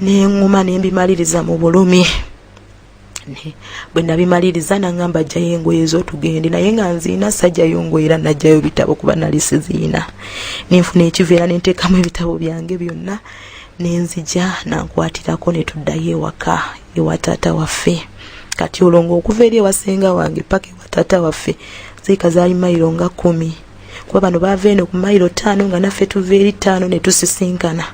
nenguma nembimaliriza mu bulumi bwe nabimaliriza nangamba ajjayo engoye zotugende naye nga nziina sajjayo ngoye era najjayo bitabo kuba nali siziina nenfuna ekiveera nenteekamu ebitabo byange byonna nenzija nankwatirako netuddayo ewaka ewa taata waffe kati olwo ngaokuva eri ewasenga wange paka ewa taata waffe ziika zaali mayiro nga kumi kuba bano baava eno ku mayiro ttaano nga naffe tuva eri ttaano ne tusisinkana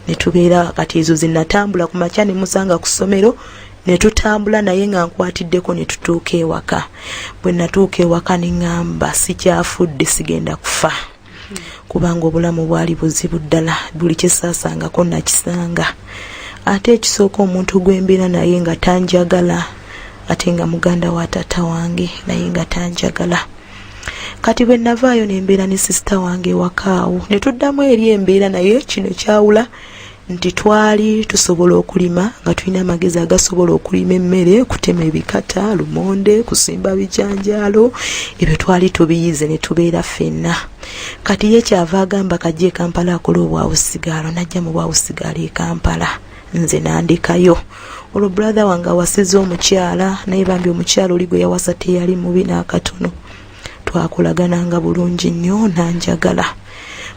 ne tubeera kati ezo ze natambula ku makya ne musanga ku ssomero ne tutambula naye nga nkwatiddeko ne tutuuka ewaka bwe natuuka ewaka ne ŋŋamba sikyafudde sigenda kufa kubanga obulamu bwali buzibu ddala buli kyesaasangako nakisanga ate ekisooka omuntu gwembeera naye nga tanjagala ate nga muganda wa taata wange naye nga tanjagala kati bwe navaayo ne mbeera ne sisita wange ewakaawo ne tuddamu eri embeera naye kino kyawula nti twali tusobola okulima nga tulina amagezi agasobola okulima emmere kutema ebikata lumonde kusimba bijanjaalo ebyo twali tubiyize ne tubeera ffenna kati ye kyava agamba kajja e kampala akola obwawusigaalo najja mu bwawusigaalo e kampala nze nandekayo olwo brother wange awasiza omukyala naye bambi omukyala oli gwe yawasa teyali mubi n'akatono twakolagananga bulungi nnyo nanjagala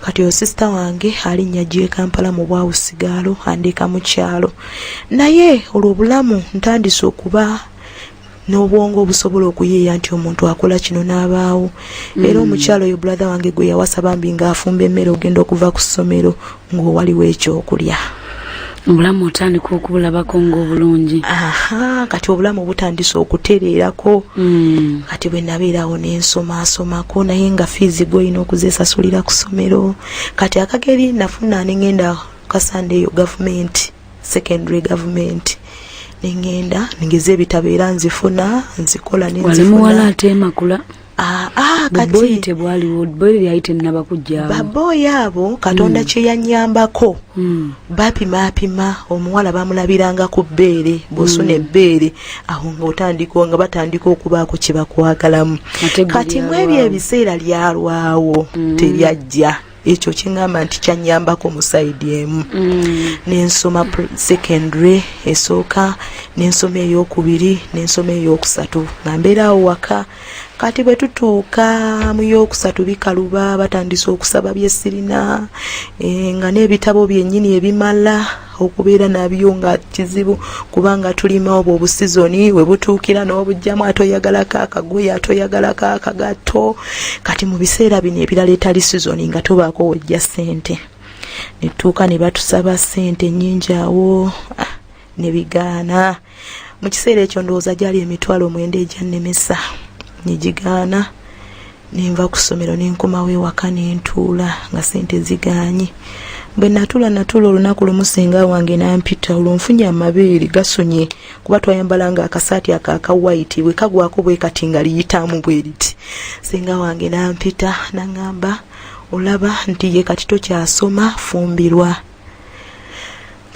kati oyo sisita wange alinnya gye kampala mu bwawu sigaalo andeeka mu kyalo naye olwo obulamu ntandise okuba n'obwongo obusobola okuyiiya nti omuntu akola kino n'abaawo mm. era omukyalo oyo brother wange gwe yawasa bambi ng'afumba emmere ogenda okuva ku ssomero ng'owaliwo ekyokulya obulamu otandika okubulabako ngaobulungi aha kati obulamu butandise okutereerako mm. kati bwe nabeerawo nensomaasomako naye nga fiizi gweolina okuzesasulira ku ssomero kati akageri nafuna nengenda kasandeeyo gavumenti secondary government nengenda nengeza ebitabo era nzifuna nzikola nenzifunamuwala atemakula ah, ah, kati tebwaliwo boyi lyali tenaba kujjawo baboyi abo katonda mm. kyeyanyambako mm. bapimapima omuwala bamulabiranga ku bbeere bwosuna mm. ebbeere awo nga otandika nga batandika okubaako kyebakwagalamu kati mwebyo ebiseera lyalwawo mm. teryajja ekyo kingamba nti kyanyambako mu saidi emu mm. nensoma secondary esooka nensoma eyokubiri nensoma eyokusatu nga mbeeraawo waka kati bwe tutuuka mu yokusatu bikaluba batandise okusaba byesirina eh, nga n'ebitabo byennyini ebimala okubeera nabyo nga kizibu kubanga tulima obwo obusizoni we butuukira n'obujjamu ate oyagalako akagoye ate oyagalako akagatto kati mu biseera bino ebirala etali sizoni nga tobaako wojja ssente netuuka ne batusaba ssente nnyingi awo ah, ne bigaana mu kiseera ekyo ndowooza gyali emitwalo omwenda egyannemesa ne gigaana ne nva ku ssomero ne nkomawo ewaka ne ntuula nga sente zigaanye bwe natuula natuula olunaku lumu singa wange nampita olwo nfunye amabeere gasonye kuba twayambalanga akasaati ako aka waiti bwe kagwako bwe kati nga liyitaamu bwe liti singa wange nampita naŋŋamba olaba nti ye kati tokyasoma fumbirwa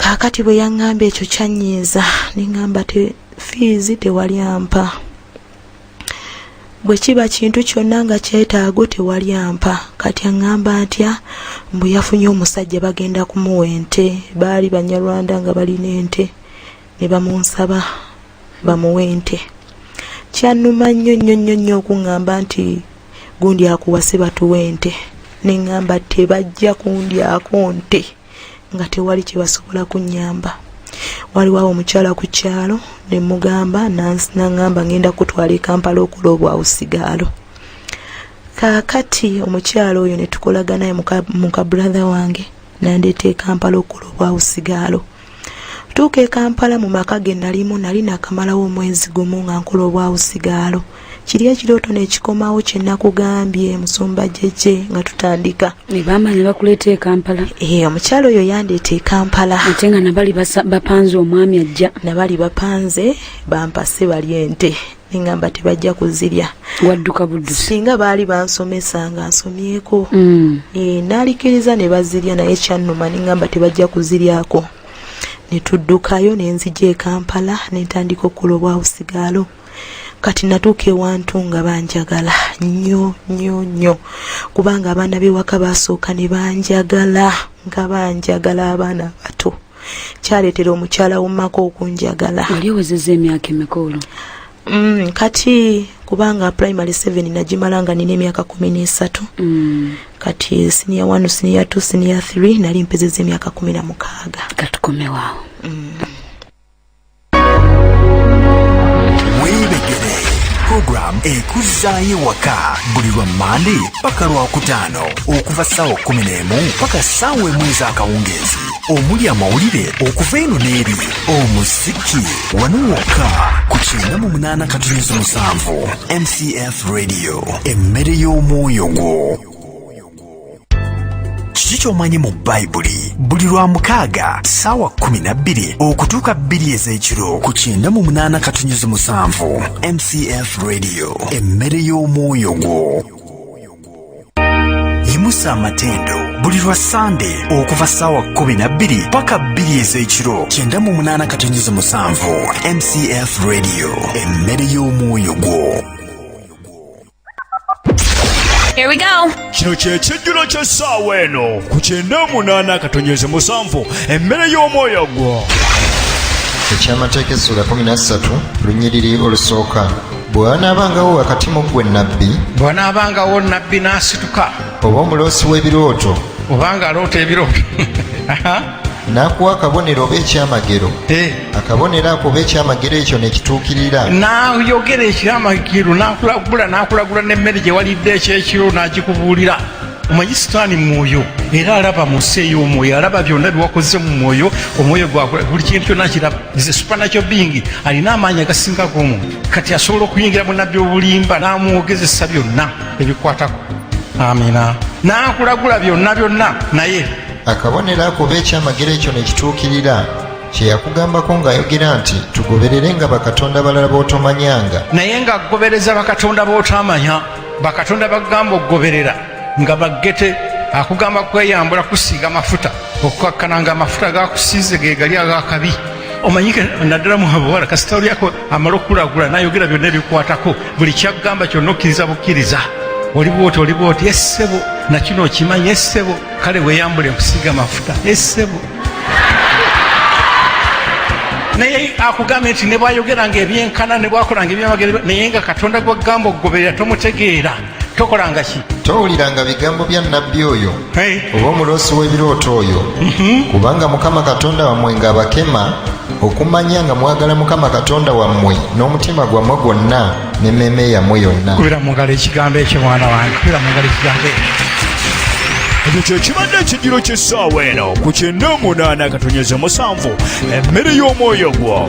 kaakati bwe yaŋŋamba ekyo kyannyiiza ne ŋŋamba te fiizi tewali ampa bwe kiba kintu kyonna nga kyetaago tewali ampa kati aŋŋamba ntya mbu yafunye omusajja bagenda kumuwa ente baali banyarwanda nga balina ente ne bamunsaba bamuwa ente kyannuma nnyo nnyo nnyo nnyo okuŋŋamba nti gundi akuwase batuwa ente ne ŋŋamba tebajja kundyako nte nga tewali kye basobola kunnyamba waliwo awo omukyala ku kyalo ne mugamba naŋŋamba ngenda kutwala ekampala okola obwa usigaalo kaakati omukyala oyo ne tukolaganaye muka brother wange nandeeta ekampala okola obwa usigaalo Tuuka e Kampala mu maka ge nalimu nali nakamalawo omwezi gumu nga nkola obwawusigaalo. Kiri ekirooto nekikomawo kye nakugambye musumba jeje nga tutandika. Ne bamanya bakuleeta e Kampala. Ee eh, omukyalo oyo yandeeta e Kampala. Ate nga nabali bapanze omwami ajja. Nabali bapanze bampase bali ente. nengamba tebajja kuzirya wadduka buddu singa baali bansomesa nga nsomyeko mm. e, nalikiriza ne bazirya naye kyannuma nengamba tebajja kuziryako netuddukayo nenzija ekampala nentandika okukola obwausigaalo kati natuuka ewantu nga banjagala nyo nyo nyo kubanga abaana bewaka basooka ne banjagala nga banjagala abaana bato kyaleetera omukyala womumaka okunjagala wali owezeza emyaka emikoolo mm, kati kubanga primary seven nagimala nga nina emyaka kumi n'esatu mm. kati siniya one siniya two siniya three nali mpezeza emyaka kumi na mukaaga katukomewawo mm. program ekuzzaayo ewaka buli lwa mande paka lwakutaano okuva ssaawa kumi n'emu paka ssaawa emu ez'akawungeezi omuli amawulire okuva eno n'eri omuziki wano wokka ku kyenda mu munaana katunyuzi musanvu mcf radio emmere y'omwoyo gwo kiki ky'omanyi mu bayibuli buli lwa mukaaga saawa kumi na bbiri okutuuka bbiri ez'ekiro ku kyenda mu munaana katunyizi musanvu mcf radio emmere y'omwoyo gwo yimusa amatendo buli lwa sande okuva saawa kumi na bbiri paka bbiri ez'ekiro kyenda mu munaana katunyizi musanvu mcf radio emmere y'omwoyo gwo Here we go. Kino ky'ekijjulo ky'essaawa eno ku kyenda omunaana akatonnyeze musanvu emmere y'omwoyo gwo eky'amateeka essula 13 lunyiriri olusooka bw'anaabangawo wakati mu ggwe nnabbi bw'anaabangawo nnabbi n'asituka oba omuloosi w'ebirooto oba ng'aloota ebirooto n'akuwa akabonero oba ekyamagero eh. akabonero ako oba ekyamagero ekyo nekituukirira n'ayogera ekyamagero n'akulagula n'akulagula n'emmere gye walidde ekyekiro n'agikubuulira omanyi sitaani mwoyo era alaba mu nsi ey'omwoyo alaba byonna byewakoze mu mwoyo omwoyo gwakula buli kintu kyonna kiraba is a supernatural being alina amaanyi agasinga g'omuntu kati asobola okuyingira mu nabbi obulimba n'amwogezesa byonna ebikwatako amina n'akulagula byonna byonna naye akabonero ako oba ekyamagero ekyo ne kituukirira kye yakugambako ng'ayogera nti tugoberere nga bakatonda balala b'otomanyanga naye ng'agobereza bakatonda b'otamanya bakatonda bagamba okugoberera nga baggete akugamba kweyambula kusiiga mafuta okukakkana nga amafuta gakusiize ge gali agakabi omanyike naddala muhabawala kasita olyako amala okukulagula nayogera byonna ebikwatako buli kyakugamba kyonna okkiriza bukkiriza oli bwoti oli bwoti essebo nakino okimanyi essebo kale weyambule nkusiiga mafuta esebo naye akugambye nti nebwayogeranga ebyenkana nebwakolanga ebyamagero naye nga katonda gwagamba okugoberera tomutegeera tokolanga ki towuliranga bigambo bya nabbi oyo oba omuloosi w'ebirooto oyo mhm. kubanga mukama katonda wammwe ng'abakema okumanya nga mwagala mukama katonda wammwe n'omutima gwammwe gwonna n'emmeeme yammwe yonna kubira mu ngalo ekigambo ekyo mwana wange kubira mu ngalo ekigambo ekyo ekyo kyekibadde ekijjiro ky'essaawa eno ku kyenda omunaana katonyeza musanvu emmere y'omwoyo gwo